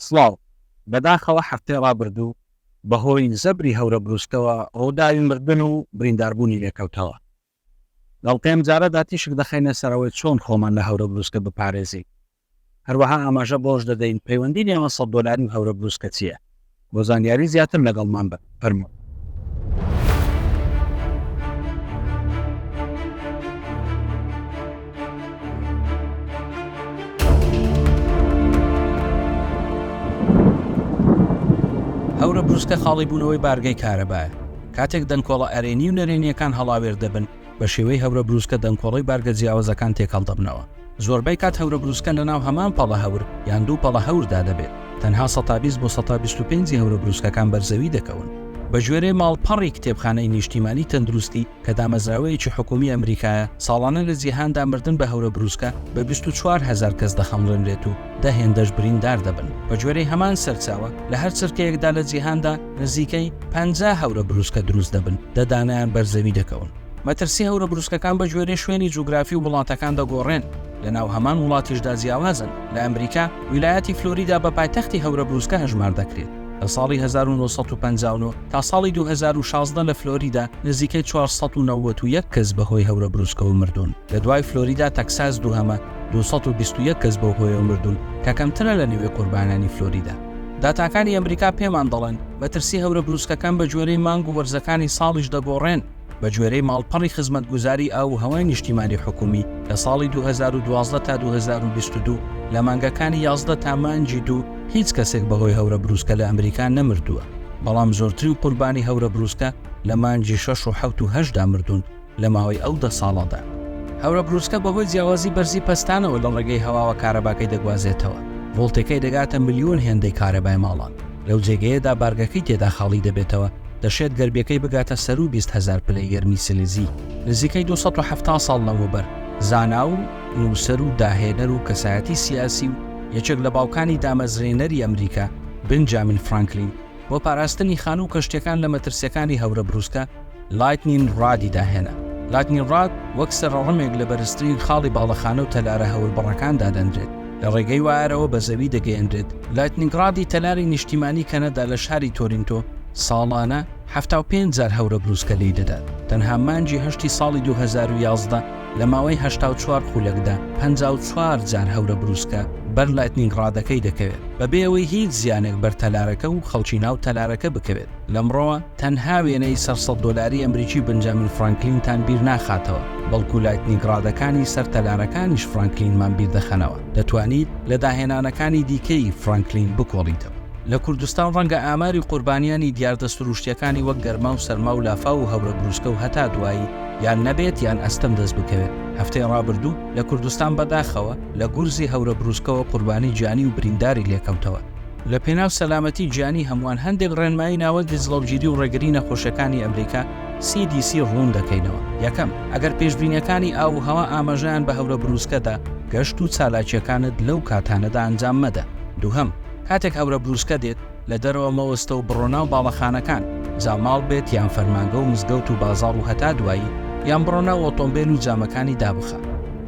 سڵاو، بەداخەوە هەفتەی ڕابردوو بەهۆی زەبری هەورەبروسکەوە ڕووداوی مردن و برینداربوونی لێکەوتەوە. بەڵکە ئەمجارەدا تیشک دەخەینە سەر ئەوەی چۆن خۆمان لە هەورەبروسکە بپارێزین. هەروەها ئاماژە بەوەش دەدەین پەیوەندی نێوان سەد دۆلاری و هەورەبروسکە چییە. بۆ زانیاری زیاتر لەگەڵمان بن فەرموون. هەورە بروسکە خاڵی بوونەوەی بارگەی کارەبایە کاتێک دەنکۆڵە ئەرێنی و نەرێنیەکان هەڵاوێردەبن بە شێوەی هەورە بروسکە دەنکۆڵەی بارگە جیاوەزەکان تێکەڵ دەبنەوە. زۆربەی کات هەورەبروسکە لەناو هەمان پەڵە هەور یان دوو پەڵە هەوردا دەبێت، تەنها سەتا بیست بۆ سەتا بیست و پێنج ی هەورەبروسکەکان بەر زەوی دەکەون. بەگوێرەی ماڵپەڕی کتێبخانەی نیشتیمانی تەندروستی کە دامەزراوەیەکی حکوومی ئەمریکایە، ساڵانە لە جیهاندا مردن بە هەورەبروسکە بە بیست و چوار هەزار کەس دەخەمڵێنرێت و دە هێندەش بریندار دەبن. بەگوێرەی هەمان سەرچاوە، لە هەر چرکەیەکدا لە جیهاندا نزیکەی پەنجا هەورەبروسکە دروست دەبن، دە دانەیان بەر زەوی دەکەون. مەترسی هەورە بروسکەکان بە گوێرەی شوێنی جوگرافی و وڵاتەکان دەگۆڕێن، لە ناو هەمان وڵاتیشدا جیاوازن، لە ئەمریکا ویلایەتی فلۆریدا بە پایتەختی هەورە بروسکە هەژمار دەکرێت، لە ساڵی هەزار و نۆ سەد و پەنجا و نۆ تا ساڵی دوو هەزار و شازدە لە فلۆریدا نزیکەی چوار سەد و نەوەد و یەک کەس بە هۆی هەورە بروسکەوە مردوون، لە دوای فلۆریدا تەکساس دووهەمە دوو سەد و بیست و یەک کەس بەو هۆیەوە مردوون کە کەمترە لە نێوی قوربانانی فلۆریدا. داتاکانی ئەمریکا پێمان دەڵێن مەترسی هەورە بروسکەکان بە گوێرەی مانگ و وەرزەکانی ساڵیش دەگۆڕێن، بە گوێرەی ماڵپەڕی خزمەتگوزاری ئاو و هەوای نیشتیمانی حکوومی، لە ساڵی دوو هەزار و دوازدە تا دوو هەزار و بیست و دوو لە مانگەکانی یازدە تا مانگی دوو هیچ کەسێک بەهۆی هەورە برووسکە لە ئەمریکا نەمردووە، بەڵام زۆرترین قوربانی هەورە برووسکە لە مانگی شەش و حەوت و هەشتدا مردوون لە ماوەی ئەو دە ساڵەدا. هەورە برووسکە بەهۆی جیاوازی بەرزی پەستانەوە لە ڕێگەی هەواوە کارەباکەی دەگوازێتەوە، ڤۆڵتەکەی دەگاتە ملیۆن هێندەی کارەبای ماڵان، لەو جێگەیەدا بارگەکەی تێدا خاڵی دەبێتەوە، دەشێت گەربیەکەی بگاتە سەروو بیست هەزار پلەی گەرمی سیلیزی. نزیکەی دوو سەد و حەفتا ساڵ لەمەوبەر، زانا و نووسەر و داهێنەر و کەسایەتی سیاسی و یەکێک لە باوکانی دامەزرێنەری ئەمریکا، بنجامین فرانکلین، بۆ پاراستنی خانوو و کەشتیەکان لە مەترسیەکانی هەورە بروسکە، لایتنین ڕادی داهێنا. لایتنین ڕاد وەک سەرەڕمێک لە بەرزترین خاڵی باڵەخانە و تەلارە هەوربڕەکان دادەنرێت. لە ڕێگەی وایەرەوە بە زەوی دەگەیەنرێت. لایتنینگڕادی تەلاری نیشتیمانی کەنەدا لە شاری تۆرینتۆ ساڵانە حەفتا و پێنج جار هەورە بروسکە لێی دەدات، تەنها مانگی هەشتی ساڵی دوو هەزار و یازدە لە ماوەی هەشتا و چوار خولەکدا پەنجا و چوار جار هەورە بروسکە بەر لایتنینگڕادەکەی دەکەوێت بەبێ ئەوەی هیچ زیانێک بەر تەلارەکە و خەڵکی ناو تەلارەکە بکەوێت. لەمڕۆوە تەنها وێنەی سەر سەد دۆلاری ئەمریکی بنجامین فرانکلینتان بیر ناخاتەوە، بەڵکو لایتنیگ ڕادەکانی سەر تەلارەکانیش فرانکلینمان بیر دەخەنەوە. دەتوانیت لە داهێنانەکانی دیکەی فرانکلین بکۆڵیتەوە. لە کوردستان ڕەنگە ئاماری قوربانیانی دیاردە سرووشتییەکانی وەک گەرما و سەرما و لافاو و هەورە برووسکە و هەتا دوایی یان نەبێت یان ئەستەم دەست بکەوێت. هەفتەی ڕابردوو لە کوردستان بەداخەوە لە گورزی هەورە برووسکەوە قوربانی گیانی و برینداری لێکەوتەوە. لە پێناو سەلامەتی گیانی هەمووان، هەندێک ڕێنمایی ناوەندی جڵەوگیری و ڕێگری نەخۆشیەکانی ئەمریکا، CDC، ڕوون دەکەینەوە، یەکەم، ئەگەر پێشبینیەکانی ئاو و هەوا ئاماژەیان بە هەورە بروسکە دا، گەشت و چالاکیەکانت لەو کاتانەدا ئەنجام مەدە، دووهەم، کاتێک هەورە بروسکە دێت، لە دەرەوە مەوەستە و بڕۆ ناو باڵەخانەکان، جا ماڵ بێت یان فەرمانگە و مزگەوت و بازاڕ و هەتا دوایی، یان بڕۆ ناو ئۆتۆمبێل و جامەکانی دابخە.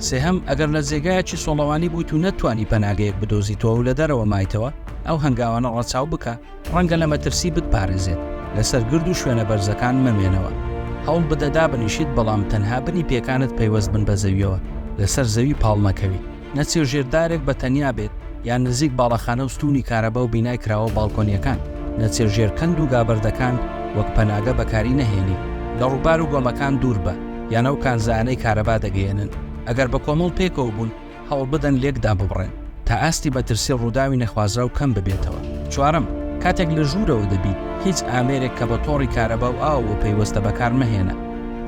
سێهەم، ئەگەر لە جێگایەکی سۆڵەوانی بوویت و نەتتوانی پەناگەیەک بدۆزیتەوە و لە دەرەوە مایتەوە، ئەو هەنگاوانە ڕەچاو بکە، ڕەنگە لە مەترسی بتپارێزێت، لەسەر گرد و شوێنە بەرزەکان مەمێنەوە. هەوڵ بدە دابنیشیت بەڵام تەنها بنی پێکانت پەیوەست بن بە زەوییەوە، لەسەر زەوی پاڵ نەکەویت. نەچێ ژێر دارێک بە تەنیا بێت یان نزیک باڵەخانە و ستوونی کارەبا و بینای کراوە و باڵکۆنییەکان. نەچێ ژێر کەند و گابەردەکان وەک پەناگە بەکاری نەهێنی. لە ڕووبار و گۆمەکان دوور بە. یان ئەو کانزایانەی کارەبا دەگەیەنن، ئەگەر بە کۆمەڵ پێکەوە بوون، هەوڵبدەن لێک داببڕێن، تا ئاستی مەترسی ڕووداوی نەخوازراو کەم ببێتەوە. چوارەم، کاتێک لە ژوورەوە دەبیت، هیچ ئامێرێک کە بە تۆڕی کارەبا و ئاوەوە پەیوەستە بەکارمەهێنە،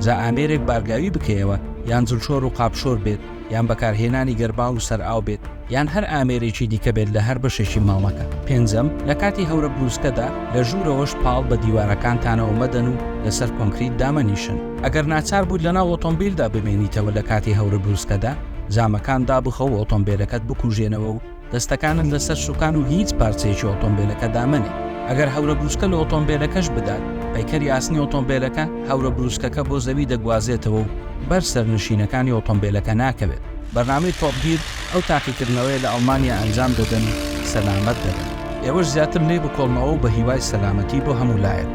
جا ئامێرێک بارگاوی بکەیەوە یان جلشۆر و قاپشۆر بێت، یان بەکارهێنانی گەرماو و سەرئاو بێت، یان هەر ئامێرێکی دیکە بێت لە هەر بەشێکی ماڵەکە. پێنجەم، لە کاتی هەورە بروسکەدا، لە ژوورەوەش پاڵ بە دیوارەکانتانەوە مەدەن و لەسەر کۆنکریت دامەنیشن. ئەگەر ناچار بوویت لەناو ئۆتۆمبیلدا بمێنیتەوە لە کاتی هەورە بروسکەدا، جامەکان دابخە و ئۆتۆمبیلەکەت بکوژێنەوە و دەستەکانت لەسەر سوکان و هیچ پارچەیەکی ئۆتۆمبێلەکەدا مەنێ، ئەگەر هەورە بروسکە لە ئۆتۆمبێلەکەش بدات، پەیکەری ئاسنی ئۆتۆمبێلەکە هەورە بروسکەکە بۆ زەوی دەگوازێتەوە و بەر سەرنشینەکانی ئۆتۆمبێلەکە ناکەوێت. بەرنامەی تۆپ گیر ئەو تاقیکردنەوەیە لە ئەڵمانیا ئەنجام دەدەن و سەلامەت دەبن. ئێوەش زیاتر لێی بکۆڵنەوە و بە هیوای سەلامەتی بۆ هەموو لایەک.